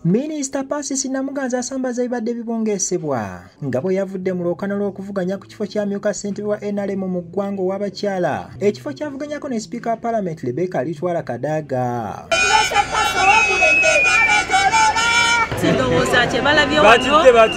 minisita pasisi namuganza asambaza ebibadde bibongeesebwa nga bwe yavudde mu lwokana lw'okuvuganya ku kifo kyamyuka ssentebe wa nrm mu ggwanga ow'abakyala ekifo kyavuganyako ne sipiika wa palamenti rebeka alitwala kadaaga ndowooza kyebalabyewo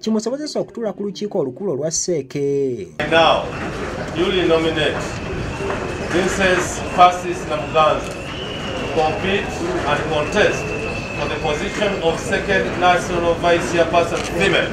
kimusobozesa okutuula ku lukiiko olukulu olwa seeke For the position of second national vice chairperson female.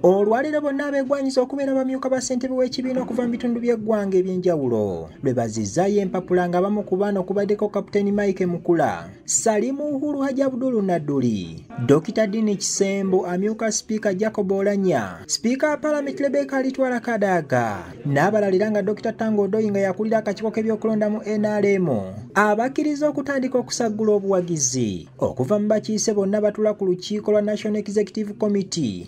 olwaleero bonna abegwanyiza okubeera bamyuka ba ssentebe w'ekibiina okuva mu bitundu by'eggwanga eby'enjawulo lwe bazizaayo empapula nga bamu ku baana okubaddeko kapiteeni mike mukula Salimu Uhuru Haji Abdul Naduli, Dr. Dini Kisembo, amyuka sipiika Jacob Olanya, sipiika wa palamenti Rebecca Alitwala Kadaga n'abalalira nga Dr. Tango Odoi nga yakulira akakiiko k'ebyokulonda mu NRM abakkiriza okutandika okusaggula obuwagizi okuva mu bakiise bonna batula ku lukiiko lwa National Executive Committee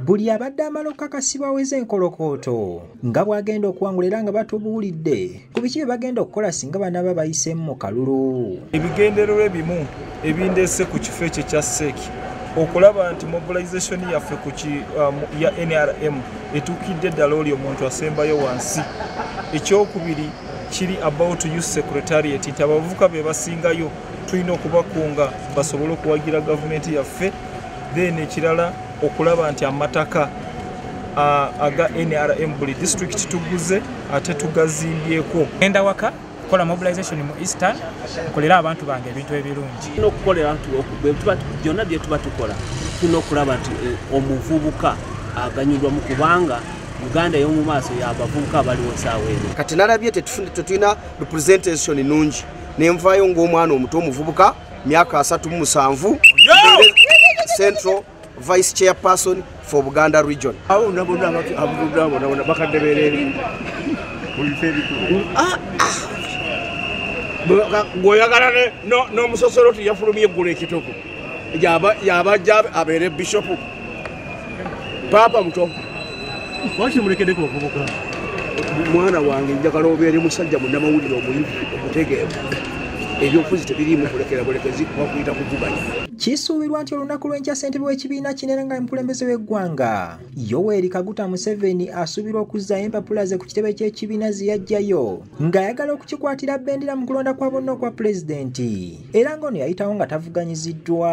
buli abadde amala okukakasibwa aweze enkolokooto nga bw'agenda okuwangula era nga batubuulidde ku biki bye bagenda okukola singa banaaba bayiseemu mu kalulu ebigendererwa ebimu ebindeese ku kifo ekyo ekya seeki okulaba nti mobilization yaffe ku um, ya nrm etuukidde eddala oli omuntu asembayo wansi ekyokubiri kiri about u secretariat nti abavuka be basingayo tulina okubakunga basobole okuwagira gavumenti yaffe then ekirala okulaba nti amataka aga nrm buli district tuguze ate tugazimbyeko enda waka kukola mobilization mu eastern nkolera abantu bange ebintu ebirungi byonna byetuba tukola tulina okulaba nti eh, omuvubuka aganyulwamu kubanga uganda yomumaaso yabavubuka abaliwo saawa eno kati nalabye tetulina representation nungi nenvaayo ng'omwana omuto omuvubuka myaka asatu mu musanvu central vice chairperson for buganda region gweoyagala n'omusosoloti yafulumye eggulu ekituku yabajja abeere bishopu papa muto lwaki mulekedeko ovubuka mwana wange njagala obeere musajja munamawulire omuyivu omutegeevu ebyobufuzi tebiriimu kulekera bulekezi bakuyita kuvuganya kisuubirwa nti olunaku lw'enkya ssentebe w'ekibiina kinene nga mukulembeze w'eggwanga yoweri kaguta museveni asuubirwa okuzzayo empapula ze ku kitebe ky'ekibiina ze yajjayo ng'ayagala okukikwatira bendera mu kulonda kwa bonna okwa pulezidenti era ng'ono yayitawo nga tavuganyiziddwa